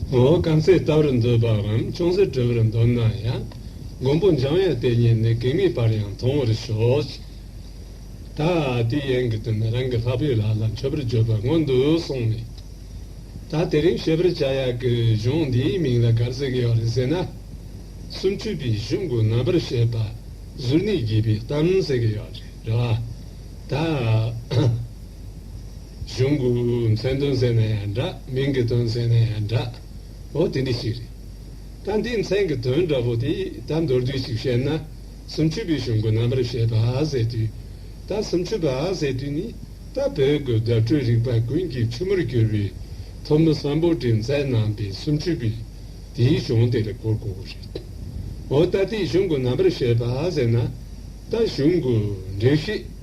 ངོ་བོ་སྐམ་སའི་རྟ་རུ་འདོད་པའམ་ཅུང་ཟད་དྲོ་བར་འདོད་ན་ཡང་མགོན་པོ་འཇམ་དབྱངས་དེ་ཉིད་ནི་གེགས་མེད་པར་ཡང་མཐོང་བར་ཤོག། ད་དེའི་ཡན་གྱི་དོན་ནི་རང་གི་ལྷག་པའི་ལག་ལ་མཆོད་པར་བརྗོད་པར་མངོན་དུ་སོང་བས། ད་དེ་རིང་ཤེས་པར་བྱ་ཡག་གི་གཞུང་འདིའི་མིང་ལ་གར་ཟིག་ཡོད་རེད་ཟེར་ན། སུམ་བཅུ་པའི་གཞུང་གི་རྣམ་པར་བཤད་པ་གཟུར་གནས་བགྱིས་པའི་གཏམ་ཟེར་གྱི་ཡོད་རེད་རེད་བ། ད། གཞུང་གི་མཚན་དོན་ཟེར་ནས་འདྲ་མིང་གི་དོན་ཟེར་ནས་འདྲ་བོ་དེ་འདི་ཞིག་རེད། ད་འདིའི་མཚན་གྱི་དོན་འདྲ་བོ་དེ་ད་མདོར་བསྡུས་ཤིག་བཤད་ན། སུམ་ཆུ་བའི་གཞུང་གི་རྣམ་པར་བཤད་པ་ཟེར་དུས་ད་སུམ་ཆུ་བ་ཟེར་དུས་ནི་ད་བོད་ཀྱི་བརྡ་སྤྲོད་རིག་པ་ཀུན་གྱི་ཆུ་མོར་གྱུར་པའི་ཐོབ་མི་བསམ་པོ་དྲིན་ཚད་རྣམ་པའི་སུམ་ཆུ་བས་དེའི་གཞུང་དེ་ལ་གོ་དགོས་པ་རེད། འོ་ད་དེའི་གཞུང་གི་རྣམ་པར་བཤད་པ་ཟེར་ན་ད་གཞུང་གི་འགྲེལ་བཤད།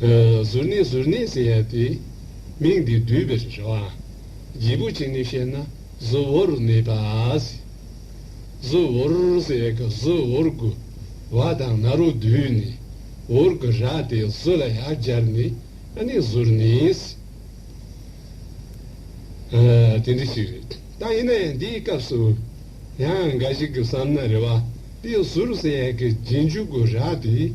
གཟུར་གནས་གཟུར་གནས་ཟེར་ཡ་དེ། མིང་འདི་བསྡུས་པའི་རེ་བ། བརྗིད་པོ་བྱས་ནས་བཤད་ན་གཟུ་བོར་གནས་པ། གཟུ་བོར་ཟེར་ཡ་གི་གཟུ་བོར་དགུ་བ་དང་ན་རོ་བསྡུས་ནས་བོར་གི་ར་དེ་གཟུ་ལ་ཡར་སྦྱར་ནས་ཨ་ནི་གཟུར་གནས། དེ་འདྲ་ཞིག་རེད་ད་ཡིན་ན་ཡང་འདིའི་སྐབས་སུ་ཡང་འགའ་ཞིག་གི་བསམ་ན་རེ་བ་དེ་གཟུར་ཟེར་ཡ་གི་རྗེས་འཇུག་གི་ར་དེ།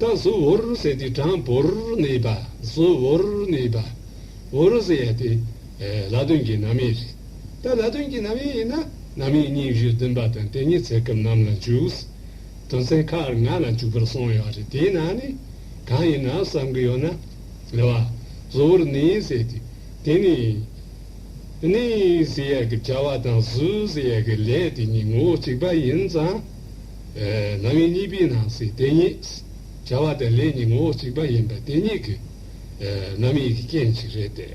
ཀ་སུ་བོར་སེ་ཏི་གྲངས་བོར་ནི་པ་སུ་བོར་ནི་པ་བོར་སེ་ཡ་སྟེ། ལ་དོན་གྱི་རྣམ་དབྱེ་རེད། ད་ལ་དོན་གྱི་རྣམ་དབྱེ་ཡིན་ན་རྣམ་དབྱེ་གཉིས་བཞི་བདུན་པ་དང་དེ་གཉིས་ཚེ་སྐབས་རྣམས་ལ་འཇུག། དོན་ཚན་ཁག་ལྔ་ལ་འཇུག་པར་གསུངས་ཡོད་རེད་དེའི་ནང་ནས་གང་ཡིན་ནམ་བསམ་གི་ཡོད་ན། ལ་བ་སུ་བོར་ནི་སེ་ཏི་དེ་ནི། ནི་སེ་ཡ་གི་བྱ་བ་དང་སུ་སེ་ཡ་གི་ལས་དེ་གཉིས་ངོ་བོ་གཅིག་པ་ཡིན་ཙང། ལམ་ཡིན་གཉིས་པའི་ནང་གསེས་དེ་ཉིད། བྱ་བ་དང་ལས་གཉིས་ངོ་བོ་གཅིག་པ་ཡིན་པ་དེ་ཉིད་ཀྱི། རྣམ་དབྱེ་གྱི་རྐྱེན་གཅིག་རེད་དེ།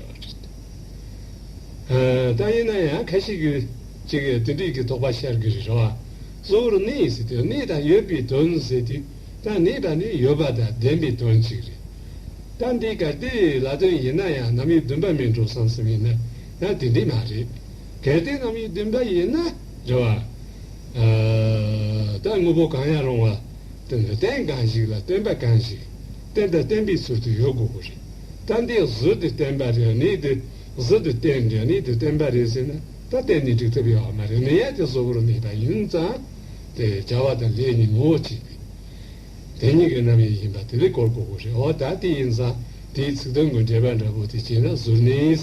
ད་ཡིན་ན་ཡང་ཁ་ཤས་ཀྱིས་ཅིག་དེ་འགྲིག་གི་དོགས་པ་ཤར་གི་རེད་རེད་བ། གཙོ་བོར་གནས་ཟེར་དུས་གནས་དང་ཡོད་པའི་དོན་ཟེར་དུས་ད་གནས་དང་ནི་ཡོད་པ་དང་ལྡན་པའི་དོན་གཅིག་རེད། ད་འདི་ག་དེ་ལ་དོན་ཡིན་ན་ཡང་རྣམ་དབྱེ་བདུན་པ་མིན་འགྲོ་བསམ་སེམས་ཡིན་ན་ན་དེ་འདྲས་མ་རེད། གལ་ཏེ་རྣམ་དབྱེ་བདུན་པ་ཡིན་ན། རེ་བ། ལྟ་དངོས་པོ་གང་ཡང་རུང་བ་དོན་དང་རྟེན་གང་ཞིག་ལ་བརྟེན་པ་གང་ཞིག་རྟེན་དང་བརྟེན་པའི་ཚུལ་དུ་ཡོད་དགོས་པ་རེད། ལྟ་འདི་གཟུགས་དེ་བརྟེན་པ་རེད་ནི་དེ་གཟུགས་དེ་རྟེན་རེད་ནི་དེ་བརྟེན་པ་རེད་ཟེར་ན་ད་གཏན་ནས་འགྲིག་ཐུབ་ཡོད་བ་མ་རེད་ནད་ཡ་དེ་གཟུགས་པོར་མེད་པ་ཡིན་ཙང་དེ་བྱ་བ་དང་ལས་གཉིས་ངོ་བོ་གཅིག་པའི་དེ་གཉིས་ཀྱི་རྣམ་དབྱེ་ཡིན་པ་དེ་ལས་གོ་དགོས་པ་རེད་འོ་ད་དེ་ཡིན་ཙང་དེའི་ཚིག་དོན་དགོས་འབྲེལ་པ་འདྲ་པོ་དེ་བྱས་ན་གཟུར་གནས་ཡིན།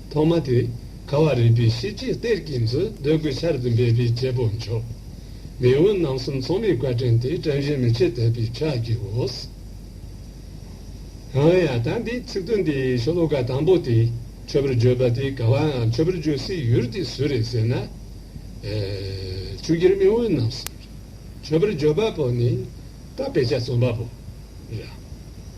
ཐོག་མ་དེ་ག་བ་རིག་པའི་ཤེས་བྱའི་གཏེར་གྱི་མཛོད་འདོད་དགུའི་ཆར་དུ་འབེབས་པའི་རྒྱལ་པོ་མཆོག། མེས་དབོན་རྣམ་གསུམ་ཚོགས་མིའི་བཀའ་དྲིན་དེ་བཀྲ་བཞིན་མི་ཕྱེད་དད་པའི་ཕྱག་རྒྱས་འོས། ཡང་ཡང་དང་དེའི་ཚིག་དོན་དེ་ཤོ་ལོ་ཀ་དང་པོ་དེ་ཆོས་པར་བརྗོད་པ་དེ་ག་བའང་ཆོས་པར་བརྗོད་སའི་ཡུལ་དེ་སུ་རེད་ཟེར་ན། ཆུ་སྒེར་མེས་དབོན་རྣམ་གསུམ་རེད། ཆོས་པར་བརྗོད་པ་པོ་ནི་རྟ་དཔེ་ཆ་རྩོམ་པ་པོ་རེད།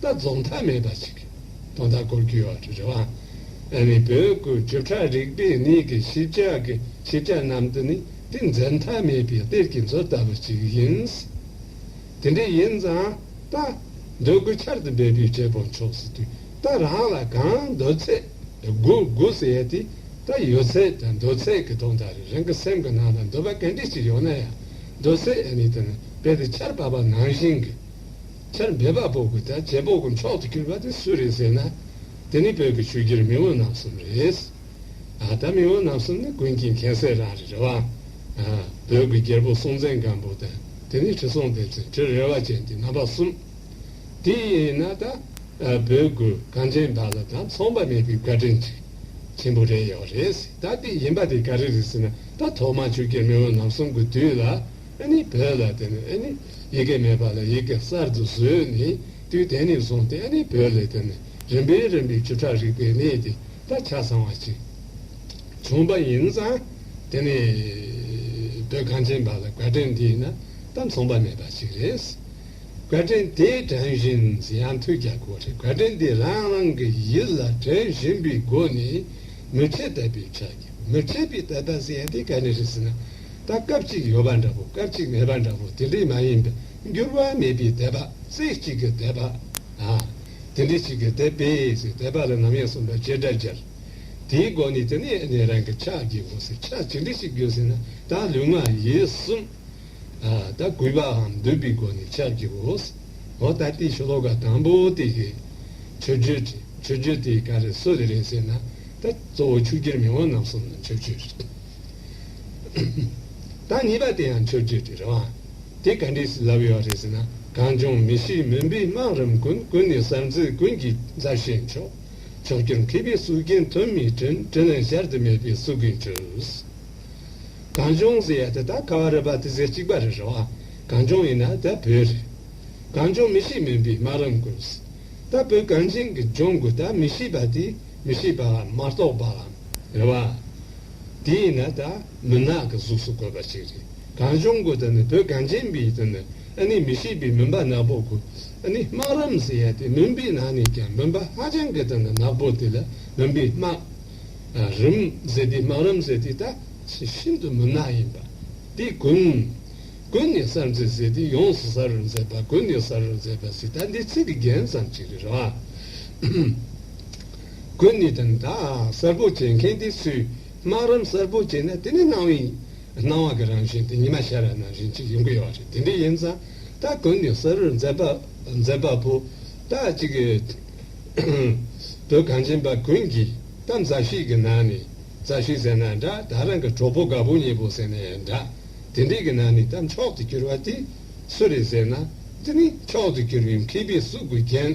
ད་རྫོགས་མཐའ་མེད་པ་ཞིག་གིས་དོན་དག་སྐོར་བརྒྱུད་བར་རེ་བ་ཨ་ནི་བོད་ཁུལ་བྱེ་བྲག་རིག་པའི་གནས་ཀྱི་ཞིབ་ཆ་གི་ཞིབ་ཆ་རྣམས་འདི་ནི་ཏིང་འཛིན་མཐའ་མེད་པའི་གཏེར་གྱི་མཛོད་ལྟ་བུ་ཞིག་ཡིན། དེ་འདྲ་ཡིན་ཙང་ད་འདོད་རྒུ་ཆར་དུ་འབད་པའི་འབྲས་བུ་མཆོག་སྲིད་དུས་ད་རང་ལ་གང་འདོད་ཚད་རྒུ་རྒུ་ཟེར་ཡས་དེ་ད་ཡོད་ཚད་ད་འདོད་ཚད་ཀྱི་དོན་དག་རེ་རང་གི་སེམས་ཀྱི་ནང་ལ་འདོད་པ་ག་འདྲས་ཞིག་ཡོད་ན་ཡང་འདོད་ཚད་ཨ་ནི་དེ་ནི་རྦད་དེ་ཆར་བབས་པ་ནང་བཞིན་གྱི། ཆར་འབེབས་སྦག་སྦོག་གི་དང་བྱེ་སྦོག་གི་འཕྲོག་ཏུ་གྱུར་པ་དེ་སུ་རེད་ཟེར་ན། དེ་ནི་བོད་ཀྱི་ཆོས་བརྒྱུད་མི་འོ་ནམ་གསུམ་རེད། ཨ་ད་མི་འོ་ནམ་གསུམ་ནི་ཀུན་གྱིས་མཁྱེན་གསལ་རང་རེད་རེད་བ། བོད་ཀྱི་རྒྱལ་པོ་སྲོང་བཙན་སྒམ་པོ་དང་དེ་ནས་ཁྲི་སྲོང་ལྡེ་བཙན་ཁྲི་རལ་བ་ཅན་དེ་རྣམ་པ་གསུམ། དེ་ཡིན་ན་ད་བོད་ཀྱི་གངས་ཅན་པ་ལ་དང་མཚུངས་པ་མེད་པའི་བཀའ་དྲིན་ཅིག་ཆེན་པོ་རེད་ཡོད་རེད་ཟེར་ད་དེ་ཡིན་པ་དེ་ག་རེ་རེད་ཟེར་ན་ད་ཐོག་མ་ཆོས་བརྒྱུད་མི་འོ་ནམ་གསུམ་གྱི་དུས་ལ་ཨ་ནི་བོད་ལ་དེ་ནི་ཨ་ནི། ཡི་གེ་མེད་པ་ལ་ཡི་གེ་གསར་དུ་བཟོས་ནས་དུས་དེ་ནས་བཟུང་སྟེ་ཨ་ནི་བོད་ལས་དོན་ནི་རིམ་པས་རིམ་པས་བཅུ་ཕྲག་རིག་པའི་གནས་དེ་དག་ཆ་ཚང་བ་ཅིག་བྱུང་པ་ཡིན་ཙང། དེ་ནི་བོད་གངས་ཅན་པ་ལ་བཀའ་དྲིན་དེ་ཡིན་ན་ད་མཚུངས་པ་མེད་པ་ཞིག་རེད། བཀའ་དྲིན་དེ་དྲན་བཞིན་ཡང་ཐུགས་རྒྱ་གོ་རེ་བཀའ་དྲིན་དེ་རང་རང་གི་ཡིད་ལ་དྲན་བཞིན་པའི་སྒོ་ནས་མི་ཁྲེལ་དད་པའི་ཕྱག་རྒྱ་མི་ཁྲེལ་པའི་དད་པ་ཟེར་ཡང་དེ་ག་ནས་རེད་ཟེར་ན། ད་སྐབས་གཅིག་ཡོད་པ་འདྲ་པོ་སྐབས་གཅིག་མེད་པ་འདྲ་པོ་དེ་འདྲའི་མ་ཡིན་པས་འགྱུར་བ་མེད་པའི་དད་པ་རྩེ་གཅིག་གི་དད་པ། དེ་འདྲའི་གཅིག་གི་དད་པས་ཞེས་དད་པ་ལ་ནམ་ཡང་གསུམ་པ་བྱེ་བྲག་སྦྱར། དེའི་སྒོ་ནས་དེ་ནས་ནི་རང་གི་ཕྱག་རྒྱའི་སྒོ་ཟེར་ཕྱག་ཇི་འདྲ་ཞིག་དགོས་ཟེར་ན་ད་ལུས་ངག་ཡིད་གསུམ། ད་གུས་པའམ་འདུད་པའི་སྒོ་ནས་ཕྱག་རྒྱའི་སྒོ་ཟེར། འོ་ད་དེའི་ཤློ་ཀ་དང་པོ་དེ་གས་མཆོད་བརྗོད་བྲི་མཆོད་བརྗོད་དེ་ག་རེ་སུ་ལས་རེད་ཟེར་ན་ད་གཙོ་བོ་ཆུ་སྐྱེར་མི་དབང་རྣམས་གསུམ་ལ་མཆོད་བརྗོད་བྲི། བདག་གཉིས་པ་དེ་ཡང་ཆོས་བརྒྱུད་ཀྱི་རང་དབང་དེ་ག་འདྲས་སུ་ལབ་ཡོད་རེད་ཟེར་ན་གངས་ལྗོངས་མི་གཤིས་མུན་པའི་སྨག་རུམ་ཀུན་ཀུན་ནས་གསར་མཛོད་ཀུན་གྱི་མཛའ་བཤེས་མཆོག་མཆོག་གྱུར་མཁས་པའི་གསུར་རྒྱན་དོན་མེད་དྲིན་དྲིན་ལན་གཞར་དུ་མེད་པའི་གསུར་རྒྱུན་ཆུས། གངས་ལྗོངས་ཟེར་ཡ་དེ་དག་ཁ་བ་རི་བ་དེ་ཟེར་གཅིག་པ་རེད་རེད་བ། གངས་ལྗོངས་ཡིན་ན་ད་བོད་རེད། གངས་ལྗོངས་མི་གཤིས་མུན་པའི་སྨག་རུམ་ཀུན། ད་བོད་གངས་ཅན་གྱི་ལྗོངས་དགུ་ད་མི་གཤིས་པ་དེ། མི་ཤེས་པ་ལ་མ་རྟོགས་པ་ལ་རེ་བ། དེ་ཡིན་ན་ད་མུན་ནག་གི་གཟུགས་སུ་བཀོད་པ་ཞིག་རེད་གངས་ལྗོངས་ཀུན་ད་ནི་བོད་གངས་ཅན་པའི་ད་ནི་ཨ་ནི་མི་ཤེས་པའི་མུན་པ་ནག་པོ་དགུ་ཨ་ནི་སྨག་རུམ་ཟེར་ཡ་དེ་མུན་པའི་ནང་ནས་ཀྱང་མུན་པ་ཧ་ཅང་གི་ད་ནི་ནག་པོ་དེ་ལ་མུན་པའི་སྨག་རུམ་ཟེར་དེ་སྨག་རུམ་ཟེར་དེ་ད་ཤིན་ཏུ་མུན་ནག་ཡིན་པ་དེ་ཀུན་ཀུན་ནས་གསར་མཛེས་ཟེར་དེ་ཡོངས་སུ་གསར་རུ་མཛེས་པ་ཀུན་ནས་གསར་རུ་མཛེས་པ་ཟེར་ད་འདི་ཚིག་གི་རྒྱན་ཙམ་ཞིག་རེད་རེད་བ། དགོས་ནི་དང་བདག་གསར་བུ་བྱེད་མཁན་དེ་སུས་སྨག་རམ་གསར་བུ་བྱེད་ན་དེ་ནི་སྣང་བའི་སྣང་བ་གི་རང་བཞིན་དེ་ཉི་མ་ཤར་བའི་རང་བཞིན་གཅིག་ཡིན་དགོས་བ་རེད་དེ་འདྲ་ཡིན་ཙང་བདག་དགོས་ནི་གསར་བུར་མཛད་པ་པོ་བདག་གཅིག་གིས་དོལ་གངས་ཅན་པ་ཀུན་གྱི་གཏམ་མཛའ་ཤིག་གི་ནང་ནས་མཛའ་ཤིག་ཟེར་ན་འདྲ་བདག་རང་གི་གྲོགས་པོ་དགའ་པོ་མྱེས་པོ་ཟེར་ནའི་འདྲ་དེ་འདྲའི་གི་ནང་ནས་གཏམ་མཆོག་ཏུ་གྱུར་བ་དེ་སུ་རེད་ཟེར་ན་དེ་ནི་མཆོག་ཏུ་གྱུར་བའི་མཁས་པའི་གཟུགས་དགུ་རྒྱན།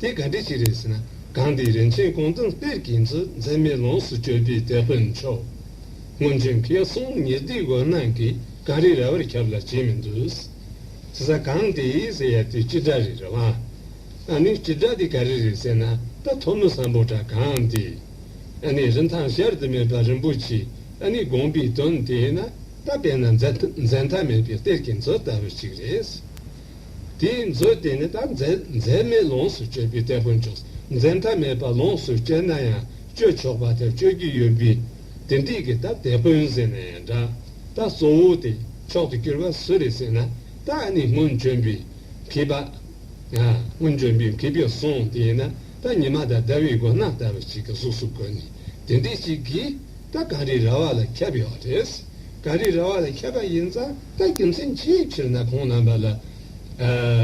དེ་ག་འདྲི་ཞིག་རེད་ཟེར་ན་གང་འདི་རིན་ཆེན་ཀོང་ཙང་གཏེར་གྱི་མཛོད་མཛེས་མའི་ལོངས་སུ་སྤྱོད་པའི་དེད་དཔོན་མཆོག་སྔོན་བྱོན་མཁས་གསུམ་ཉེར་བསྡུས་དགོན་ནང་གི་གངས་རི་རལ་བར་ཁྱབ་ལ་བྱེད་མི་འདུག་ཟེར་ས་གང་འདི་ཟེར་ཡ་དེ་ཅི་འདྲ་རེད་རེད་བ། ཨ་ནི་ཅི་འདྲ་དེ་ག་རེ་རེད་ཟེར་ན་ད་ཐོ་མི་བཟང་པོ་འདྲ་གང་འདི། ཨ་ནི་རིན་ཐང་གཞར་དུ་མེད་པ་རིན་པོ་ཆེ་ཨ་ནི་དགོངས་པའི་དོན་དེ་ན་ད་བལྟས་ན་འཛད་མཐའ་མེད་པའི་གཏེར་གྱི་མཛོད་ལྟ་བུ་ཅིག་རེད། དེའི་མཛོད་དེ་ནི་དང་འཛད་མེད་ལོངས་སུ་སྤྱོད་པའི་སྟེགས་བུ་མཆོག་འཛད་མཐའ་མེད་པ་ལོངས་སུ་སྤྱད་ན་ཡང་སྤྱོད་ཆོག་པ་དང་སྤྱོད་རྒྱུ་ཡོད་པས་དེ་འགྲིག་གི་ད་དེད་དཔོན་ཟེར་ན་ཡང་འདྲ་ད་གཙོ་བོ་དེ་མཆོག་ཏུ་གྱུར་པ་སུ་རེད་ཟེར་ན་ད་ནི་སྔོན་བྱོན་པའི་མཁས་པ། སྔོན་བྱོན་པའི་མཁས་པའི་གསུང་དེ་ཡིན་ན་ད་ཉི་མ་དང་ཟླ་བའི་སྒོ་ནག་ལྟ་བུ་ཞིག་གི་གཟུགས་སུ་བཀོད་ནས་དེ་འདྲས་ཅིག་གིས་ད་གངས་རིའི་ར་བ་ལ་ཁྱབ་ཡོད་པ་རེད། གངས་རིའི་ར་བ་ལ་ཁྱབ་པ་ཡིན་ཙང་ད་རྒྱུ་མཚན་ཅིའི་ཕྱིར་ན་ཁོང་རྣམ་པ་ལ།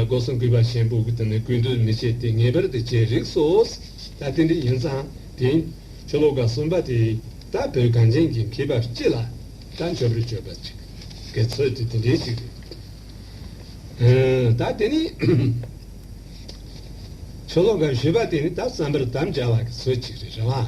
སྒོ་སྲུང་གུས་པ་ཞན་པོ་དེ་ནི་གུས་འདུད་མི་བྱེད་དེ་ངེས་པར་དུ་བྱེད་རིགས་སོ། ད་དེ་འདྲ་ཡིན་ཙང་དེ། ཆོ་ལོ་ག་གསུམ་པ་དེས་ད་བོད་གངས་ཅན་གྱི་མཁས་པ་སྤྱི་ལ་ད་འཇོག་པར་བྱོས་པ་ཅིག་གི་ཚོད་དེ་དེ་འདྲའི་ཞིག་རེད། ད་དེ་ནི། ཆོ་ལོ་ག་བཞི་པ་དེ་ནི་ད་བསམ་པར་དམ་བཅའ་བ་གི་ཚོད་ཅིག་རེད་རེད་བ།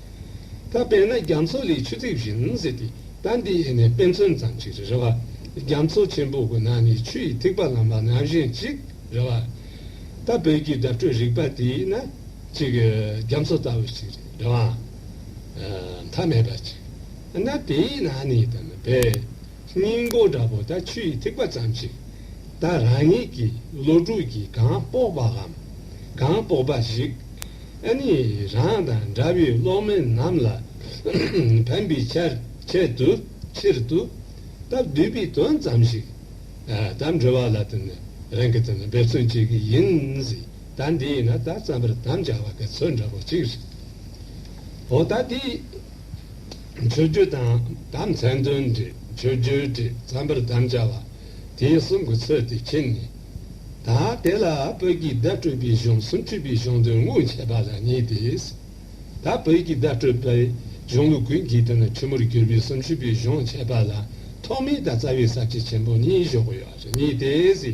ད་དཔེར་ན་རྒྱ་མཚོ་ལས་ཆུ་ཐིགས་བཞིན་ཟེར་དུས་ད་འདི་ཡེ་ནས་དཔེ་མཚོན་ཙམ་ཞིག་རེད་རེད་བ། རྒྱ་མཚོ་ཆེན་པོ་གི་ནང་ནས་ཆུ་ཡི་ཐིགས་པ་ལངས་པ་ནང་བཞིན་ཅིག་རེད་བ། ད་བོད་ཀྱི་བརྡ་སྤྲོད་རིག་པ་དེ་ཡིན་ན་ཅིག་རྒྱ་མཚོ་ལྟ་བུ་ཞིག་རེད་རེད་བ། མཐའ་མེད་པ་ཅིག་ན་དེའི་ནང་ནས་དམ་པའི། སྙིང་པོ་འདྲ་པོ་དང་ཆུ་ཡི་ཐིགས་པ་ཙམ་ཞིག་དང་རང་ཉིད་ཀྱི་བློ་གྲོས་ཀྱིས་གང་དཔོག་པའམ་གང་དཔོག་པ་ཞིག་ཨ་ནི་རང་དང་འདྲ་བའི་སློབ་མ་རྣམས་ལ་ཕན་པའི་ཆེད་དུ་ཕྱིར་དུ་སྟབས་བསྡུས་པའི་དོན་ཙམ་ཞིག་དང་འབྲེལ་བ་ལ་རང་གིས་འབད་བརྩོན་བྱེད་ཀྱི་ཡིན། ད་འདི་ཡིན་ན་ད་བརྩམ་པར་དམ་བཅའ་བ་ག་ཚོད་འདྲ་པོ་ཞིག་རེད། འོ་ད་འདི། མཆོད་རྒྱུ་དང་དམ་མཚན་འདོན་འབྲི་མཆོད་རྒྱུའི་བྲིས་རྩམ་པར་དམ་བཅའ་བ། དེའི་གསུང་གི་ཚུལ་དེ་མཁྱེན་ནས། ད་དེ་ལ་བོད་ཀྱི་བརྡ་སྤྲོད་པའི་གཞུང་གསུམ་འཁྲུལ་པའི་གཞུང་དོན་དངོས་འཆད་པ་ལ་གཉིས་ཏེ། ད་བོད་ཀྱི་བརྡ་སྤྲོད་པའི་གཞུང་ལུགས་ཀུན་གྱི་དོན་ཆེན་མོར་གྱུར་པའི་གསུམ་འཁྲུལ་པའི་གཞུང་འཆད་པ་ལ་ཐོག་མའི་དང་རྩ་བའི་ཟབ་ཁྱད་ཆེན་པོ་གཉིས་གཞོག་གི་ཡོད་པ་ལ་གཉིས་ཏེ།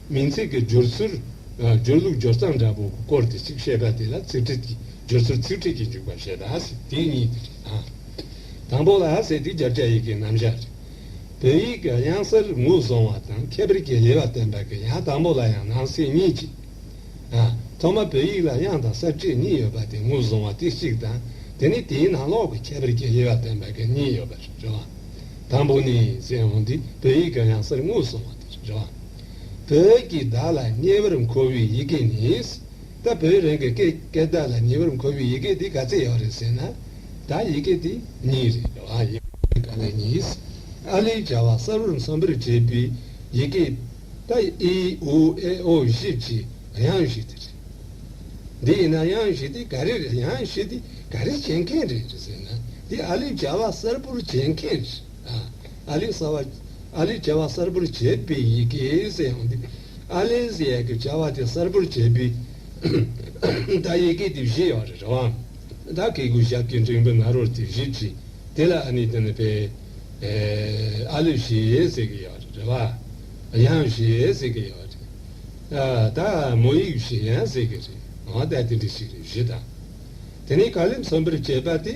མིང་ཚིག་གི་སྦྱོར་ཚུལ། སྦྱོར་ལུགས་སྦྱོར་སྟངས་འདྲ་པོ་སྐོར་དེ་གཅིག་བཤད་པ་དེ་ལ་ཚིག་ཁྲིད་ཀྱི་སྦྱོར་ཚུལ་ཚིག་ཁྲིད་ཀྱི་འཇུག་པ་ཞེས་པ་དེ་གཉིས། དང་པོ་ལ་ཟེར་དུས་རྒྱ་བསྐྱེད་ཡི་གེའི་རྣམ་གཞག་རེད། བོད་ཡིག་གི་དབྱངས་གསལ་ངོས་བཟུང་བ་དང་ཁྱད་པར་གྱི་ལེ་བ་བསྟན་པ་གི་ཡང་དང་པོ་ལ་ཡང་ནང་གསེས་གཉིས་ཀྱི། ཐོག་མ་བོད་ཡིག་ལ་དབྱངས་དང་གསལ་བྱེད་གཉིས་ཡོད་པ་དེ་ངོས་བཟུང་བ་དེ་གཅིག་དང་དེ་ནས་དེའི་ནང་ལོགས་ཀྱི་ཁྱད་པར་གྱི་ལེ་བ་བསྟན་པ་གི་གཉིས་ཡོད་པ་རེད། དང་པོ་ནས་ཟེར་འོང་དུས་བོད་ཡིག་གི་དབྱངས་གསལ་ངོས་བཟུང་བ་དེ་རེད། བོད་ཀྱིས་བདག་ལ་ཉེ་བར་མཁོ་བའི་ཡི་གེ་ནི། ད་བོད་རང་གི་སྐད་ཀྱིས་བདག་ལ་ཉེ་བར་མཁོ་བའི་ཡི་གེ་དེ་ག་ཚད་ཡག་རེད་ཟེར་ན། ད་ཡི་གེ་དེ་གཉིས་རེད། ཡི་གེ་དེ་ག་ལ་ཡིན། ཨ་ལིའི་བྱ་བ་གསར་བུར་འཚམ་པར་བྱེད་པའི་ཡི་གེ། ད་ཨི་ཨུ་ཨེ་ཨོ་བཞི་བཅས་དབྱངས་བཞི་དེ་རེད། འདི་ཡིན་ན་དབྱངས་བཞི་དེ་ག་རེ་རེད་དབྱངས་བཞི་དེ་ག་རེ་བྱེད་མཁན་རེད་ཟེར་ན། འདི་ཨ་ལིའི་བྱ་བ་གསར་བུར་བྱེད་མཁན་རེད། ཨ་ལི་གསར་བ། ཨ་ལི་བྱ་བ་གསར་པོར་བྱེད་པའི་ཡི་གེ་ཟེར་ཡང་འདུག་ཨ་ལི་ཟེར་ཡས་ཀྱི་བྱ་བ་དེ་གསར་པོར་བྱེད་པའི་ད་ཡི་གེ་དེབ་གཞི་ཡག་རེད་རེད་བ། ད་གི་གུ་ཞབས་ཀྱི་འགྲེང་བུ་ནཱ་རོར་དེབ་གཞི་བྲིས་དེ་ལ་ཨ་ནི་དེ་ནི་པའི་ཨ་ལི་ཞེས་ཟེར་གི་ཡག་རེད་རེད་བ། ཡང་ཞེས་ཟེར་གི་ཡག་རེད། ད་མོ་ཡིག་ཞེས་ཡང་ཟེར་གི་རེད་འང་ད་དེ་འདྲ་ཞིག་རེད་བཞི་དང། དེ་ནས་ག་ལེར་མཚོན་པར་བྱེད་པ་དེ།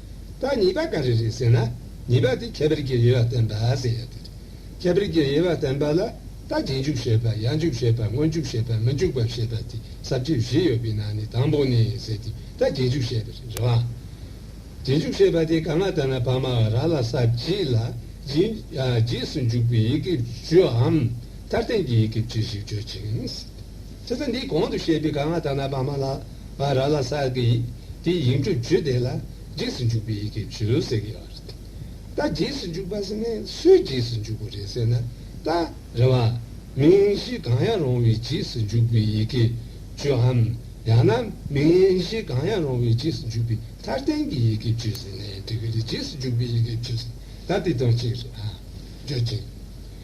པ་ཉིས་པ་ག་རེ་རེད་ཟེར་ན་ཉིས་པ་དེ་ཁྱད་པར་གྱི་དབྱེ་བ་བསྟན་པ་ཟེར་ཡ་དེ་རེད། ཁྱད་པར་གྱི་དབྱེ་བ་བསྟན་པ་ལ་ད་རྗེས་འཇུག་ཞེས་པ་ཡང་འཇུག་ཞེས་པ་སྔོན་འཇུག་ཞེས་པ་མི་འཇུག་པ་ཞེས་པ་དེ་ཟབ་རྒྱས་བཞི་ཡོད་པའི་ནང་ནས་དང་པོ་ནས་ཟེར་དེ་ད་རྗེས་འཇུག་ཞེས་པ་རེད་རེད་བ། རྗེས་འཇུག་ཞེས་པ་དེ་ག་ང་ལྟར་ན་བར་མ་ར་ལ་ས་བརྗིད་ལ་རྗེས་སུ་འཇུག་པའི་ཡི་གེ་བརྗོད་འམ་མཐར་བསྟན་གྱི་ཡི་གེ་བརྗོད་ཞེས་བརྗོད་ཅིང། ཚེ་ཚད་འདིའི་གོང་དུ་བཤད་པའི་ག་ང་ད་ན་པ་མ་ལ་བ་ར་ལ་སར་གི་ཡིག་དེའི་ཡིག་འབྲུ་བརྒྱུད་དེ་ལ་རྗེས་སུ་འཇུག་པའི་ཡི་གེ་བརྒྱུད་ཟེར་གྱི་ཡོད་རེད། ད་རྗེས་སུ་འཇུག་པ་ཟེར་ནས་སུའི་རྗེས་སུ་འཇུག་པ་རེད་ཟེར་ན་ད་རེ་བ། མིང་གཞི་གང་ཡང་རུང་བའི་རྗེས་སུ་འཇུག་པའི་ཡི་གེ་བརྒྱུད་ཨམ་ཡང་ན་མིང་གཞི་གང་ཡང་རུང་བའི་རྗེས་སུ་འཇུག་པའི་མཐའ་རྟེན་གྱི་ཡི་གེ་བརྒྱུད་ཟེར་ནས་འབྲི་གི་རེད་རྗེས་སུ་འཇུག་པའི་ཡི་གེ་བརྒྱུད་ཟེར་ན་ད་དེ་དོན་གཅིག་རེད་ཨང། བརྒྱུད་ཅིང།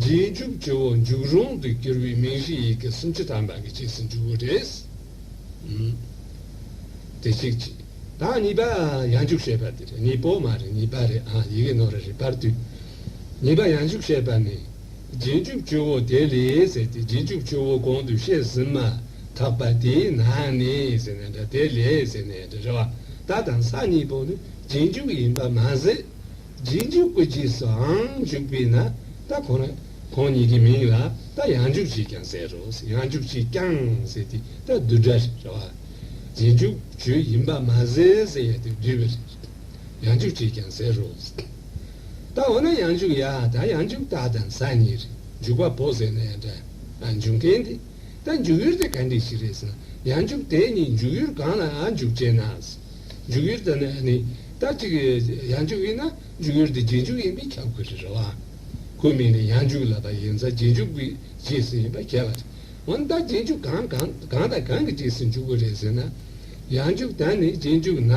རྗེས་འཇུག་སྤྱི་བོ་མཇུག་རུང་དུ་གྱུར་པའི་མིང་གཞི་ཡི་གེ་སུམ་ཅུ་ཐམ་པ་གི་གཅིག་ཟིན་འཇུག་གུ་རེས། དེ་གཅིག་གཅིག་དང་གཉིས་པ་ཡང་འཇུག་བྱེད་པ་དེ་རེད་གཉིས་པོ་མ་རེད་གཉིས་པ་རེད་ཨང་ཡི་གེ་ནོར་རེ་རེ་བར་དུས་གཉིས་པ་ཡང་འཇུག་བྱེད་པ་ནི་རྗེས་འཇུག་སྤྱི་བོ་དེ་ལས་ཟེར་ཏེ་རྗེས་འཇུག་སྤྱི་བོ་གོང་དུ་བཤད་ཟིན་མ་ཐག་པ་དེའི་ནང་ནས་ཟེར་ནས་འདྲ་དེ་ལས་ཟེར་ནས་འདྲ་རེད་བ་ད་དང་ས་གཉིས་པོ་ནི་རྗེས་འཇུག་ཡིན་པ་མ་ཟད་རྗེས་འཇུག་སྐུ་རྗེས་སུའང་འཇུག་པས་ན་ད་གོང་ན་ཁོང་གཉིས་ཀྱི་མིང་ལ་ད་ཡང་འཇུག་ཅེས་ཀྱང་ཟེར་རོ། ཡང་འཇུག་ཅེས་ཀྱང་ཟེར་ཏེ་ད་བསྡུས་སྒྲ་རེད། རྗེས་འཇུག་བརྗོད་ཡིན་པ་མ་ཟད་ཟེར་ཡ་དེ་བསྡུས་པ་རེད། ཡང་འཇུག་ཅེས་ཀྱང་ཟེར་རོ། ད་འོ་ན་ཡང་འཇུག་ཡ་ད་ཡང་འཇུག་ད་དང་ཟ་གཉིས་རེད་འཇུག་པ་པོ་ཟེར་ན་ཡང་འདྲ། འཇུག་མཁན་དེ་ད་འཇུག་ཡུལ་དེ་ག་འདྲི་ཞིག་རེད་ཟེར་ན་ཡང་འཇུག་དེ་གཉིས་འཇུག་ཡུལ་གང་ལ་འཇུག་ཅེ་ན། འཇུག་ཡུལ་དེ་ནི་ནི་ད་ཅིག། ཡང་འཇུག་ཡིན་ན་འཇུག་ཡུལ་དེ་རྗེས་འཇུག་ཡིན་པས་ཁྱབ་དགོས་རེད་རོ། གོ་མིན་ནི་ཡང་འཇུག་ལ་ད་ཡིན་ཚ་རྗེས་འཇུག་གི་རྗེས་སུ་ཡིན་པ་གལ་ལ་ཆེ། འོན་ད་རྗེས་འཇུག་གང་གང་གང་དང་གང་གི་རྗེས་སུ་འཇུག་གི་རེད་ཟེར་ན། ཡང་འཇུག་ད་ནི་རྗེས་འཇུག་ན།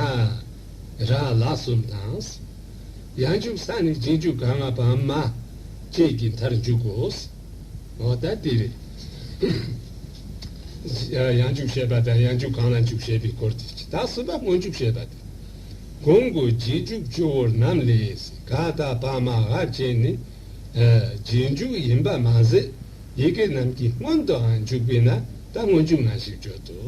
རང་ལག་གསུམ་དང། ཡང་འཇུག་ས་ནི་རྗེས་འཇུག་ག་ང་བ་མ། བཅས་ཀྱི་མཐར་འཇུག་གོ། ངོ་ད་དེ་རེད། ཡང་འཇུག་བྱེད་པ་དང་ཡང་འཇུག་གང་ལ་འཇུག་བྱེད་པའི་སྐོར་དེ་ཇི་ལྟར་སྲིད་པ་སྔོན་འཇུག་བྱེད་པ་དེ། གོང་གི་རྗེས་འཇུག་སྤྱི་བོར་རྣམས་ལས་ག་དག་པ་མ་ཧ་ཅན་ནི། རྗེས་འཇུག་ཡིན་པ་མ་ཟད་ཡི་གེ་རྣམས་ཀྱི་སྔོན་དུའང་འཇུག་པས་ན་ད་སྔོན་འཇུག་ན་ཞེས་བརྗོད་དོ།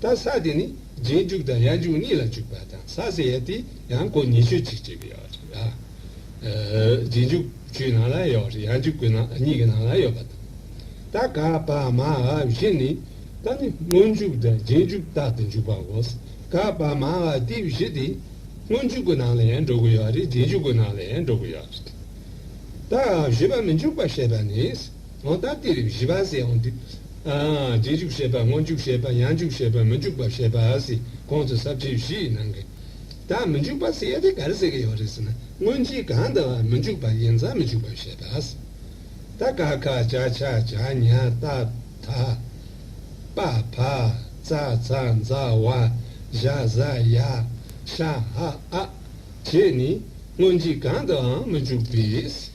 ད་ས་དེ་ནི་རྗེས་འཇུག་དང་ཡར་འཇུག་གཉིས་ལ་འཇུག་པ་དང་ས་ཟེར་ཡ་དེ་ཡང་གོ་ཉེས་ཆོས་གཅིག་ཅེས་པའི་ཡོག་ཅིག་ཨ། རྗེས་འཇུག་བཅུའི་ནང་ལ་ཡོག་རེད་ཡར་འཇུག་གི་ནང་གཉིས་ཀྱི་ནང་ལ་ཡོད་པ་དང། ད་ག་པ་མ་ཨ་བཞི་ནི་ད་ནི་སྔོན་འཇུག་དང་རྗེས་འཇུག་རྟག་ཏུ་འཇུག་པ་གོ། ག་པ་མ་ཨ་དེ་བཞི་དེ་སྔོན་འཇུག་གི་ནང་ལ་ཡང་འགྲོ་གི་ཡོག་རེད་རྗེས་འཇུག་གི་ནང་ལ་ཡང་འགྲོ་གི་ཡོག་རེད། ད་ཨ་བཞི་པ་མི་འཇུག་པ་ཞེས་པ་ནི། ལོ་ཟླ་སྟེ་རིམ་བཞི་པ་ཟེར་འོང་དུས། རྗེས་འཇུག་བྱེད་པ་སྔོན་འཇུག་བྱེད་པ་ཡང་འཇུག་བྱེད་པ་མི་འཇུག་པ་བྱེད་པ་ཟེར་གོང་དུ་ཟབ་ཁྲིད་བཞི་ཡི་ནང་གི། ད་མི་འཇུག་པ་ཟེར་ཡས་དེ་ག་རེ་ཟེར་གི་ཡོད་རེད་ཟེར་ན་སྔོན་རྗེས་གང་འདི་བ་མི་འཇུག་པ་ཡིན་ཙང་མི་འཇུག་པ་བྱེད་པ་ཟེར། ད་ཀ་ཁ་བྱ་ཆ་བྱ་ཉ་ཏ་ཐ་པ་བ་ཙ་ཙ་འཛ་བ་བཞ་བཟའ་ཡ་ཤ་ཧ་ཨ་བྱས་ནས་སྔོན་རྗེས་གང་འདི་བའང་མི་འཇུག་པས།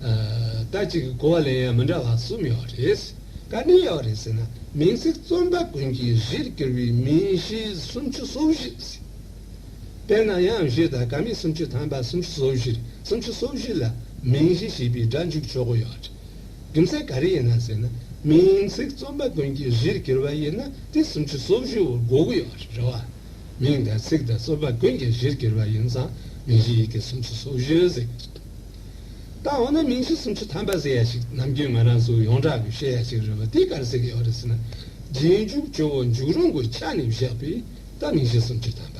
ཟླ་གཅིག་གི་གོ་བ་ལེན་ཡ་མི་འདྲ་བ་གསུམ་ཡོད་རེད། ག་ནས་ཡོད་རེད་ཟེར་ན་མིང་ཚིག་རྩོམ་པ་ཀུན་གྱིས་གཞིར་གྱུར་བའི་མིང་གཞི་སུམ་ཅུ་སོ་བཞི་ཟེར། དེས་ན་ཡང་གཞི་དང་ག་མིང་སུམ་ཅུ་ཐམ་པ་སུམ་ཅུ་སོ་བཞི་རེད་སུམ་ཅུ་སོ་བཞི་ལ་མིང་གཞི་ཞེས་པའི་སྒྲ་འཇུག་ཆོག་གི་ཡོད་རེད། རྒྱུ་མཚན་ག་རེ་ཡིན་ན་ཟེར་ན་མིང་ཚིག་རྩོམ་པ་ཀུན་གྱིས་གཞིར་གྱུར་བ་ཡིན་ན་དེ་སུམ་ཅུ་སོ་བཞི་བོར་གོ་གི་ཡོད་རེད་རེད་བ། མིང་དང་ཚིག་དང་རྩོམ་པ་ཀུན་གྱིས་གཞིར་གྱུར་བ་ཡིན་ཙང་མིང་གཞི་ཡི་གེ་སུམ་ཅུ་སོ་བཞི་ཟེར། ད་འོ་ན་མིང་ཚིག་སུམ་ཅུ་ཐམ་པ་ཟེར་ཡ་ཞིག་ནམ་རྒྱུན་ང་རང་ཚོ་ཡོངས་གྲགས་ཀྱི་བཤད་ཡ་ཞིག་རེད་བ་དེ་ག་རེ་ཟེར་གྱི་ཡོད་རེད་ཟེར་ན། རྗེས་འཇུག་ཇོ་བོ་འཇུག་རུང་གི་ཆ་ནས་བཞག་པས་ད་མིང་ཚིག་སུམ་ཅུ་ཐམ་པ།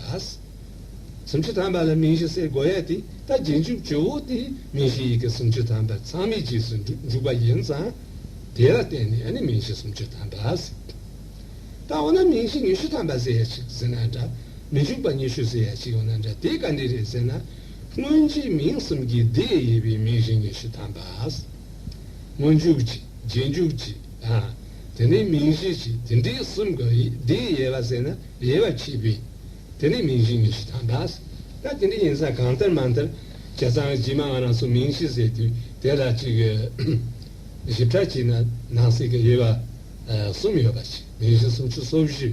སུམ་ཅུ་ཐམ་པ་ལ་མིང་གཞི་གསེར་སྒོ་ཡ་དེ་ད་རྗེས་འཇུག་ཇོ་བོ་དེ་མིང་གཞི་ཡི་གེ་སུམ་ཅུ་ཐམ་པ་ཚང་མའི་རྗེས་སུ་འཇུག་པ་ཡིན་ཙང། དེ་ལ་བརྟེན་ནས་ནི་མིང་གཞི་སུམ་ཅུ་ཐམ་པ། ད་འོ་ན་མིང་གཞི་ཉི་ཤུ་ཐམ་པ་ཟེར་ཡ་ཞིག་ཟེར་ན་འདྲ། མི་འཇུག་པ་ཉི་ཤུ་ཟེར་ཡ་ཞིག་ཡོད་ན་འདྲ་དེ་ག་འདྲས་རེད་ཟེར་ན། སྔོན་རྗེས་མིང་གསུམ་གྱི་སྡེ་དབྱེ་བའི་མིང་གཞི་ཉི་ཤུ་ཐམ་པ། སྔོན་འཇུག་ཅིག་རྗེས་འཇུག་ཅིག་དང། དེ་ནས་མིང་གཞི་ཅིག་དེ་འདྲའི་གསུམ་ག་ཡིས་སྡེ་དབྱེ་བ་བསྲེས་ན་དབྱེ་བ་ཕྱེད་པས། དེ་ནས་མིང་གཞི་ཉི་ཤུ་ཐམ་པ། ད་དེ་འདྲ་ཡིན་ས་གང་ལྟར་མ་མཐར་བྱ་ཚང་གི་བྱེ་མ་ང་རང་སོགས་མིང་གཞི་བསྲེས་དུས་དེ་ལ་གཅིག་གིས་ཞིབ་ཕྲ་བྱས་ན་ནང་གསེས་ཀྱི་དབྱེ་བ་གསུམ་ཡོད་པ་ཅིག་མིང་གཞི་སུམ་ཅུ་སོ་བཞི།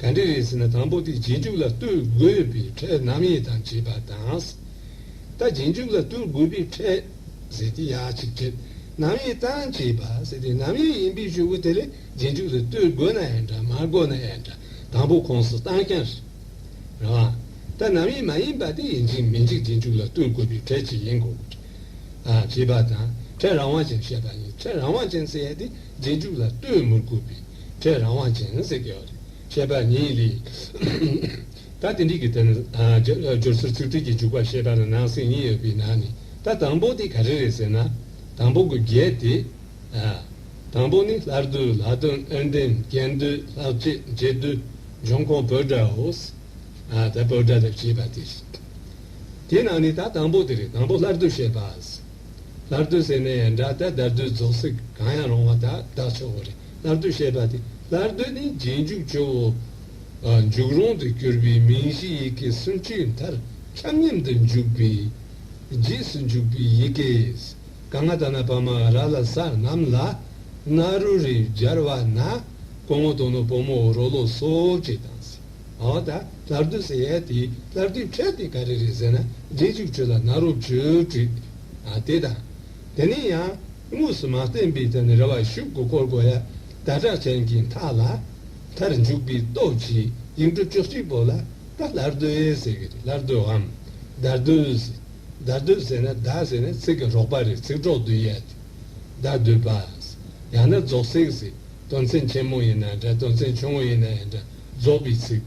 ག་འདི་རེད་ཟེར་ན་དང་པོ་དེ་རྗེས་འཇུག་ལ་བསྟུར་དགོས་པའི་ཕྲད་ནམ་ཡིན་དང་བྱས་པ་དང། ད་རྗེས་འཇུག་ལ་བསྟུར་དགོས་པའི་ཕྲད་ཟེར་ཏེ་ཡང་གཅིག་ཕྲད་ནམ་ཡིན་དང་བྱས་པ་ཟེར་ཏེ་ནམ་ཡིན་ཡིན་པའི་ཆོས་གོ་དེ་ལས་རྗེས་འཇུག་ལ་བསྟུར་དགོས་ན་ཡང་འདྲ་མ་དགོས་ན་ཡང་འདྲ་དང་པོ་ཁོངས་སུ་བཏང་ཀྱང་རེད། རང་ད་ནམ་ཡིན་མ་ཡིན་པ་དེ་ཡིན་འཇིག་མི་འཇིག་རྗེས་འཇུག་ལ་བསྟུར་དགོས་པའི་ཕྲད་ཅིག་ཡིན་དགོས་པ་རེད། བྱས་པ་དང་ཕྲད་རང་དབང་ཅན་བཤད་པ་ཡིན་ཕྲད་རང་དབང་ཅན་ཟེར་ཡ་དེ། རྗེས་འཇུག་ལ་ལྟོས་མུར་བསྐུར་བས་ཁྲེས་རང་དབང་ཅན་ཟེར་གི། ཞེས་པ་ནི་ལས། ད་དེ་འགྲིག་གི་དོན། སྦྱོར་ཚུལ་ཚིག་འགྲོས་ཀྱི་འཇུག་པ་ཞེས་པ་ལ་ནང་གསེས་གཉིས་ཡོད་པའི་ནང་ནས་ད་དང་པོ་དེ་ག་རེ་རེད་ཟེར་ན། དང་པོ་གི་བརྒྱད་དེ། དང་པོ་ནི་ལྷར་བསྡུ་ལྷག་དོན་ཨན་ཏན་རྒྱན་བསྡུ་ལྷག་བཅས་རྗེས་བསྡུ་འབྱུང་ཁུངས་བོད་སྒྲའོ། ད་བོད་སྒྲ་ལབ་ཅེས་པ་དེ་རེད། དེའི་ནང་ནས་ད་དང་པོ་དེ་རེད་དང་པོ་ལྷར་བསྡུ་ཞེས་པ། སླར་བསྡུ་ཟེར་ནས་ཡང་སྒྲ་ལྟར་བརྡར་བསྡུ་རྫོགས་ཚིག་གང་ཡང་རུང་བ་དག་བདག་ཆོག་གོ་རེ་སླར་བསྡུ་ཞེས་པ་སྟེ་སླར་བསྡུ་ནི་རྗེས་འཇུག་སྤྱོད་བོ། འཇུག་རུང་དུ་གྱུར་པའི་མིང་གཞི་ཡི་གེ་སུམ་ཅུའི་མཐར་ཁྱབ་མཉམ་དུ་འཇུག་པས། རྗེས་སུ་འཇུག་པའི་ཡི་གེས་ག་ང་ད་ན་བ་མ་ར་ལ་ས་རྣམས་ལ་ན་རུ་རེ་སྦྱར་བ་ན་གོ་ངོ་དོ་ནོ་བོ་མོ་རོ་ལོ་སོ་ཅེས་དང། ཨོ་ད་ལར་དུ་ཟེར་ཡས་དེའི་ལར་དུས་འཕྲལ་དེ་ག་རེ་རེད་ཟེར་ན་རྗེས་འཇུག་ཆོས་ལ་ནཱ་རོ་བཅུ་དྲུག། ཨ་དེ་དང། དེ་ནས་ཡང་དངོས་སུ་མ་བསྟན་པའི་ཐད་ནས་རེ་བ་ཞུགས་དགོས་སྐོར་གོ་ཡ། ད་གྲགས་ཆེན་གྱི་མཐའ་ལ། མཐར་འཇུག་པའི་སྟོབས་ཀྱིས་ཡིག་འབྲུ་བཅུ་གཅིག་པོ་ལ་ད་ལར་དུས་ཟེར་གི་རེད་ལར་དུའམ། དར་དུས། དར་དུས་ཟེར་ན་ད་ཟེར་ན་ཚིག་གི་རོགས་པ་རེད་ཚིག་གྲོགས་དུས་ཡས་དུས། ད་དུས་པ། ཡང་ན་རྫོགས་ཚིག་ཟེར། དོན་ཚན་ཆེན་མོ་ཡིན་ན་འདྲ་དོན་ཚན་ཆུང་ངུ་ཡིན་ན་ཡང་འདྲ། རྫོགས་པའི་ཚིག།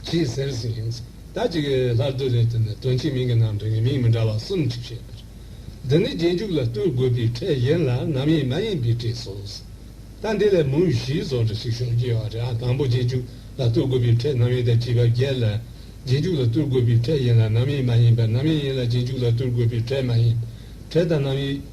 ཅེས་ཟེར་ཟིན་ཞིང། ད་ཅི་གི་ལྷ་བདུད་རེ་ལྟོས་ནས་དོན་གྱི་མིང་གི་ནང་དོན་གྱི་མིང་མི་འདྲ་བ་གསུམ་བྲིས་བྱས་པར། འདི་ནི་རྗེས་འཇུག་ལ་བསྟུན་དགོས་པའི་ཕྲད་གཞན་ལ་ནམ་ཡིན་མ་ཡིན་པའི་གྲས་སོ། ད་འདི་ལས་མུ་བཞིའི་བཟོ་འདྲ་ཞིག་ཤོང་རྒྱུ་ཡོད་པ་རེད་ཨ། དང་པོ་རྗེས་འཇུག་ལ་བསྟུན་དགོས་པའི་ཕྲད་ནམ་ཡིན་ད་བྲིས་པ་བརྒྱད་ལ། རྗེས་འཇུག་ལ་བསྟུན་དགོས་པའི་ཕྲད་གཞན་ལ་ནམ་ཡིན་མ་ཡིན་པ་ནམ་ཡིན་ཡིན་ལ་རྗེས་འཇུག་ལ་བསྟུན་དགོས་པའི་ཕྲད་མ་ཡིན། ཕྲད་དང་ནམ་ཡིན།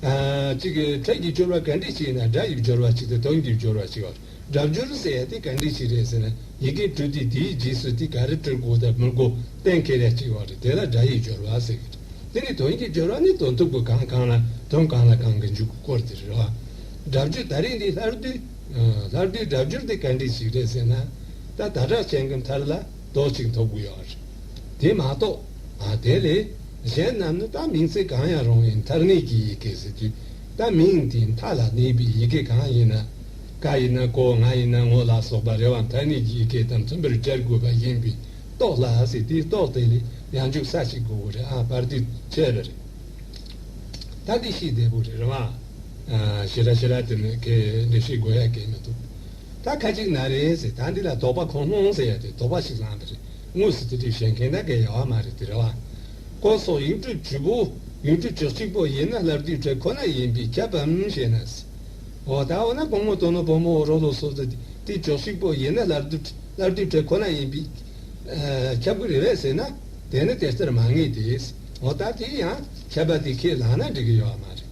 གཅིག་གི་ཐད་ཀྱི་སྦྱོར་བ་ག་འདྲས་ཅིག་ཡིན་ན་སྒྲ་ཡི་སྦྱོར་བ་གཅིག་སྟེ་དོན་གྱི་སྦྱོར་བ་གཅིག་ལ་སྒྲ་སྦྱོར་ཟེར་ཡ་དེ་ག་འདྲས་ཅིག་རེད་ཟེར་ན་ཡི་གེ་སྤྲོས་ཏེ་དེའི་རྗེས་སུ་དེ་ག་རེ་སྤྲོད་དགོས་དང་མི་དགོས་གཏན་འཁེལ་ཡ་གཅིག་ཡོང་རེད་དེ་ལ་སྒྲ་ཡི་སྦྱོར་བ་ཟེར་གི་རེད་དེ་ནི་དོན་གྱི་སྦྱོར་བ་ནི་དོན་ཐུབ་ཀྱི་གང་གང་ལ་དོན་གང་ལ་གང་གི་འཇུག་གི་སྐོར་དེ་རེད་བ། སྒྲ་སྦྱོར་ད་རེས་འདི་ལྷར་བསྡུས། ལྷར་བསྡུས་སྒྲ་སྦྱོར་དེ་ག་འདྲས་ཅིག་རེད་ཟེར་ན། ད་ད་གྲགས་ཅན་གྱི་མཐར་ལ། རྡོག་གཅིག་འཐོབ་དགོས་ཡོད་རེད། དེ་མ་གཏོགས། དེ་ལས་གཞན་རྣམས་ནི་བཏགས་མིང་ཚིག་གང་ཡང་རུང་བའི་མཐར་གནས་ཀྱི་ཡི་གེ་ཟེར་དུས་བཏགས་མིང་དེའི་མཐའ་ལ་གནས་པའི་ཡི་གེ་གང་ཡིན་ན། ཀ་ཡིན་ན་ཀོ་ང་ཡིན་ན་ངོ་ལ་སོགས་པ་རེ་བ་མཐར་གནས་ཀྱི་ཡི་གེ་དང་མཐུན་པར་སྦྱར་དགོས་པ་ཡིན་པས་རྟོགས་སླ་ཟེར་དུས་རྟོགས་དེ་ལས་ཡང་འཇུག་ས་ཞིག་དགོས་རེད་ཨ་བར་དུས་ཆད་པ་རེད། ད་གི་ཤིག་བདེ་པོ་རེད་རང། ཤི་ར་ཤི་ར་དེ་ནི་ཁའི་འགྲེལ་བཤད་དགོས་ཡ་གས་མི་འདུག། ད་ཁ་ཅིག་ན་རེ་ཟེར་ད་འདི་ལ་དོགས་པ་ཁོང་སྣང་ཟེར་ཡ་དེ་དོགས་པ་ཞིག་ལངས་པ་རེད་དངོས་སུ་དེ་དུས་གཞན་གན་ད་གན་ཡ་བ་མ་རེད་དེ་རེད་བ། སྐོར་སོགས་ཡིག་འབྲུ་བཅུ་པོ། ཡིག་འབྲུ་བཅུ་གཅིག་པོ་ཡིན་ན་ལབ་དུས་བྲེ་ཁོ་ན་ཡིན་པས་ཁྱབ་བམ་ཞེ་ན། འོ་ད་འོ་ན་གོང་མོ་དོ་ནོ་བུ་མོ་འོ་རོ་ལོ་སོགས་དེ་དུས་བཅུ་གཅིག་པོ་ཡིན་ན་ལབ་ལབ་དུས་བྲེ་ཁོ་ན་ཡིན་པས། ཁྱབ་གི་རེད་བས་ཟེར་ན། དེ་ནི་དེ་ལྟར་མ་ངེས་ཏེ། འོ་ད་དེ་ཡང་ཁྱབ་པ་དེ་ཁས་ལངས་ན་འགྲིག་གི་ཡོད་བ་མ་རེད།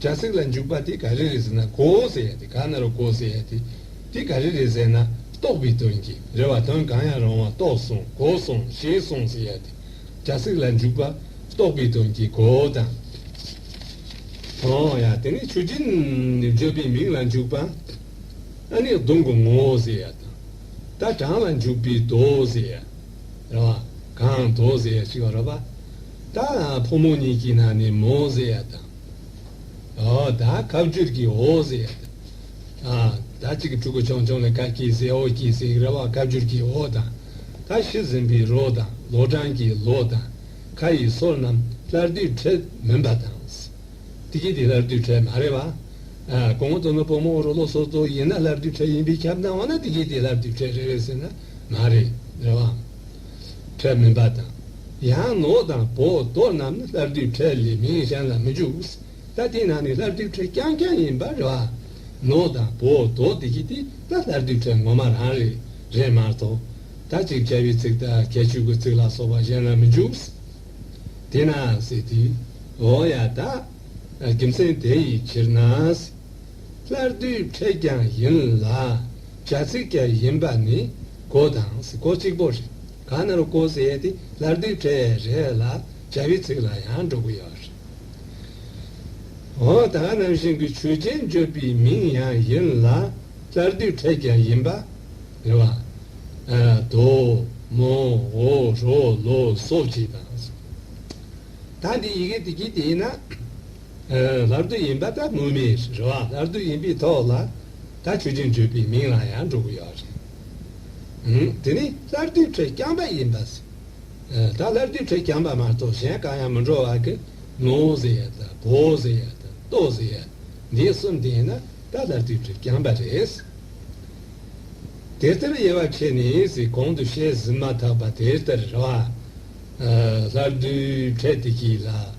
སྒྲ་ཚིག་ལ་འཇུག་པ་དེ་ག་རེ་རེད་ཟེར་ན་གོ་ཟེར་ཡ་དེ་ག་ན་རུ་གོ་ཟེར་ཡ་དེ། དེ་ག་རེ་རེད་ཟེར་ན་རྟོགས་པའི་དོན་གྱིས་རེད་བ་དོན་གང་ཡང་རུང་བ་རྟོགས་སོང་གོ་སོང་ཤེས་སོང་ཟེར་ཡ་དེ། སྒྲ་ཚིག་ལ་འཇུག་པ་རྟོགས་པའི་དོན་གྱིས་གོ་དང། སོང་ཡ་དེ་ནི་ཆོས་ཅན། བརྗོད་པའི་མིང་ལ་འཇུག་པ་ཨ་ནི་གདུང་གི་ངོ་བོ་ཟེར་ཡ་དང། ད་གྲངས་ལ་འཇུག་པའི་དོ་ཟེར་ཡ། རེད་བ། གང་དོ་ཟེར་ཡ་ཞིག་བ་རོ་བ། ད་ཕོ་མོ་གཉིས་ཀྱི་ནང་ནས་མོ་ཟེར་ཡ་དང། ད་ཁ་བསྒྱུར་གྱི་ཧོ་ཟེར་ཡ་དང། ད་གཅིག་གི་ཕྲུ་གུ་ཆུང་ཆུང་ལ་ཁ་སྐྱིད་ཟེར་ཧོ་སྐྱིད་ཟེར་རེ་བ་ཁ་བསྒྱུར་གྱི་ཧོ་དང། ད་ཤི་ཟིན་པའི་རོ་དང་ལོ་གྲངས་ཀྱི་ལོ་དང། ཁ་ཡི་སོ་རྣམས་སླར་དུས་འཕྲལ་མིན་པ་དང། དེ་གྱིས་དེ་སླར་དུས་འཕྲལ་མ་རེད་བ། གོང་དུ་ནི་བུ་མོ་རོ་ལོ་སོ་སོ་ཡིན་ན་སླར་དུས་འཕྲལ་ཡིན་པའི་ཁྱབ་སྣང་བ་ན་དེ་གྱིས་དེ་སླར་དུས་འཕྲལ་རེད་བས་ཟེར་ན་མ་རེད་རེད་བའམ། ཁྲལ་མིན་པ་དང། ཡང་ནོར་དང་བོ་དོ་རྣམས་ནི་ལྷར་བསྡུས་ཁྲལ་ལས་མིང་གཞན་ལ་མི་འཇུག། ད་དེ་རྣམས་ནི་ལྷར་བསྡུས་ཁྲལ་རྐྱང་རྐྱང་ཡིན་པར་རེ་བ། ནོར་དང་བོ་དོ་དེ་བཞི་དེ་ད་ལྷར་བསྡུས་ཁྲལ་ངོ་མ་རང་རེད་རེད་མ་གཏོགས། ད་ཅིག་ཁྲལ་བའི་ཚིག་དང་ཁྲལ་ཆུག་གི་ཚིག་ལ་སོགས་པ་གཞན་ལ་མི་འཇུག། དེས་ན་ཟེར་ཏེ། འོ་ཡ་ད། རྒྱུ་མཚན་དེ་ཡི་ཕྱིར་ན། སླར་བསྡུའི་ཕྲད་ཀྱང་ཡིན་ལ། བྱ་ཚིག་ཀྱ་ཡིན་པ་ནི་གོ་དང་གཟིགས་གོ་གཅིག་པོ་རེད། གང་ན་རུ་གོ་ཟེར་ཏེ་སླར་བསྡུའི་ཕྲད་རེད་ལ་བྱ་བའི་ཚིག་ལ་ཡང་འགྲོ་གི་ཡོད་རེད། འོ་ད་ག་ནང་བཞིན་གྱི་ཆོས་ཅན་བརྗོད་པའི་མིང་ཡང་ཡིན་ལ། སླར་བསྡུའི་ཕྲད་ཀྱ་ཡིན་པ། རེད་བ། དོ། མོ། འོ། རོ། ལོ། སོ་བྱས་དང། ད་འདི་ཡི་གེ་དེ་གྱིས་བལྟས་ན། ལར་སྡུད་ཡིན་པ་ལྟར་དངོས་མིང་རེད་བ། ལར་སྡུད་ཡིན་པའི་ཐོག་ལ་ད་ཆོས་ཅན་བརྗོད་པའི་མིང་ལ་ཡང་འགྲོ་གི་ཡོད་རེད། དེ་ནི་ལར་སྡུད་ཁྲོད་རྐྱང་པ་ཡིན་པ། ད་ལར་སྡུད་ཁྲོད་རྐྱང་པ་མ་གཏོགས་གཞན་གང་ཡང་མི་འགྲོ་བ་ཀི། ནོ་ཟེར་ཡ་དང་བོ་ཟེར་ཡ་དང་ལྟོ་ཟེར་ཡ། འདི་གསུམ་དེ་ཡིན་ན་ད་ལར་སྡུད་ཁྲོད་རྐྱང་པ་རེད། དེ་ལྟར་དབྱེ་བ་ཕྱེ་ནས་གོང་དུ་བཤད་ཟིན་མ་ཐག་པ་དེ་ལྟར་རེད་བ། ལར་སྡུད་ཁྲོད་དེ་གྱིས་ལ།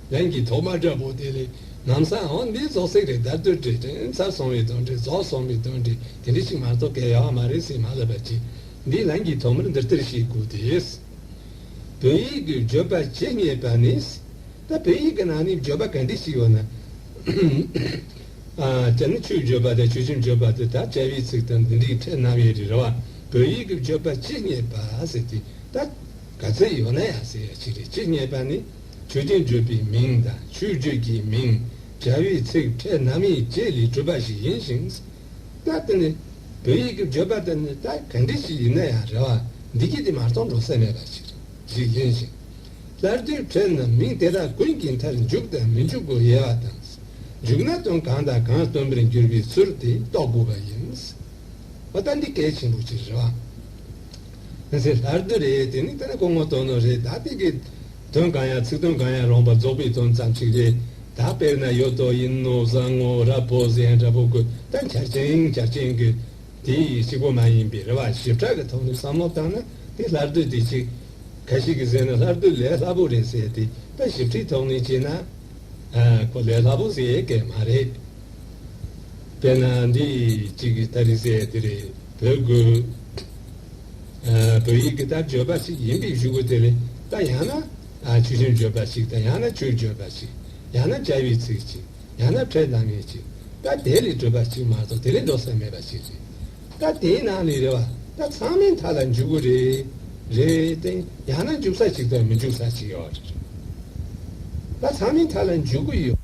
ལན་གྱིས་ཐོག་མ་དྲག་པོ་དེ་ལས་ནམ་སང་འོང་འདིའི་རྫོགས་ཚིག་རེ་དར་དུ་དྲིལ་དྲན་ཚར་སོང་བའི་དོན་དྲིལ་རྫོགས་སོང་བའི་དོན་དྲིལ་དེ་འདྲ་ཞིག་མ་རྫོགས་གལ་ཡང་མ་རེད་སེམས་མ་བསླབ་པ་ཅི། འདིའི་ལན་གྱིས་ཐོག་མར་འདིར་བསྟར་ཞེས་བསྒུགས་ཏེ། བོད་ཡིག་གི་བརྗོད་པ་ཇི་སྙེད་པ་ནི། ད་བོད་ཡིག་གི་ནང་ནས་བརྗོད་པ་ག་འདྲས་ཤིག་ཡོད་ན། བྱ་ནི་ཆུའི་བརྗོད་པ་དང་ཆུ་ཆེན་བརྗོད་པ་དེ་དག་བྱ་བའི་ཚིག་དང་འདི་འདྲའི་ཕྲད་སྣང་བའི་རིགས་ལ་བ་བོད་ཡིག་གི་བརྗོད་པ་ཇི་སྙེད་པ་ཟེར་ཏེ། ད་ག་ཚོད་ཡོད་ན་ཡང་ཟེར་ཡ་ཅི་རེད་ཇི་སྙེད་པ་ནི། དུས་དེ་བརྗོད་པའི་མིང་དང་ཆོས་བརྗོད་ཀྱི་མིང་སྦྱར་བའི་ཚིག་ཕྲད་ནམ་ཡིག་རྗེས་ལས་གྲུབ་པ་ཞིག་ཡིན་ཞིང། རྟ་དེ་ནི་བོད་ཡིག་གི་བརྗོད་པ་དེ་ནི་རྟ་ག་འདྲི་ཞིག་ཡིན་ན་ཡང་རེ་བ་འདི་སྐྱིད་དེ་མ་གཏོང་འགྲོ་ས་མེད་པ་ཞིག་རེད་ཞིག་ཡིན་ཞིང། སླར་དུས་ཕྲད་ནམ་མིང་དེ་དག་ཀུན་གྱི་མཐར་འཇུག་དང་མི་འཇུག་གོ་ཡལ་བ་དང། འཇུག་ན་དོན་གང་དང་གང་སྟོན་པར་འགྱུར་བའི་ཚུལ་དེ་རྟོགས་དགོས་པ་ཡིན། ཨོ་རྟ་འདི་གལ་ཆེན་པོ་ཅིག་རེད་བ། དེ་ཚེ་ལྷར་བསྡུ་རེད་དེ་ནི་དེ་ལ་གོང་མ་དོན་ནོ་རེད་ད་དེ་གི། དོན་གང་ཡང་ཚིག་དོན་གང་ཡང་རང་བ་རྫོགས་པའི་དོན་ཙམ་ཞིག་རེད་ད་དཔེར་ན་ཡོད་དོ་ཡིན་ནོ་བཟང་ངོ་ར་བོ་གཟན་འདྲ་བོ་གོས་དང་འཁྱར་ཅིང་འཁྱར་ཅིང་གི། དེ་ཞིག་པོ་མ་ཡིན་པའི་རེ་བ་ཞིབ་ཕྲ་གི་ཐོག་ནས་བསམ་བློ་བཏང་ན་དེ་ལྷར་བསྡུ་དེ་ཅིག། ག་ཞིག་གིས་ཟེར་ན་ལྷར་བསྡུ་ལས་སླ་པོ་རེད་ཟེར་དེ་ལྟ་ཞིབ་ཕྲའི་ཐོག་ནས་བྱས་ན། ཨ། ཁོ་ལས་སླ་པོ་ཟེར་ཡས་སྐད་མ་རེད། དཔེར་ན་འདི་གཅིག་གི་ལྟ་རིག་ཟེར་ཡ་དེ་རེད་བོད་དགོས། བོད་ཡིག་གི་ལྟ་བརྗོད་པ་ཞིག་ཡིན་པའི་གཞུག་གུ་དེ་ལས་ལྟ་ཡང་ན་ཆུ་ཆེན་བརྗོད་པ་ཞིག་དང་ཡང་ན་ཆུ་བརྗོད་པ་ཞིག་ཡང་ན་བྱ་བའི་ཚིག་ཅིག་ཡང་ན་ཕྲད་ལྟ་ངན་ཅིག་ལྟ་དེ་ལས་གྲུབ་པ་ཞིག་མ་གཏོགས་དེ་ལས་འགྲོ་ས་མེད་པ་ཞིག་རེད། ལྟ་དེའི་ནང་ནས་རེ་བ་ལྟ་ཚང་མའི་མཐའ་ལ་འཇུག་གི་རེད་རེད་དེ་ཡང་ན་འཇུག་ས་ཞིག་དང་མི་འཇུག་ས་ཞིག་ཡོད་རེད། ལྟ་ཚང་མའི་མཐའ་ལ་འཇུག་གི་ཡོད།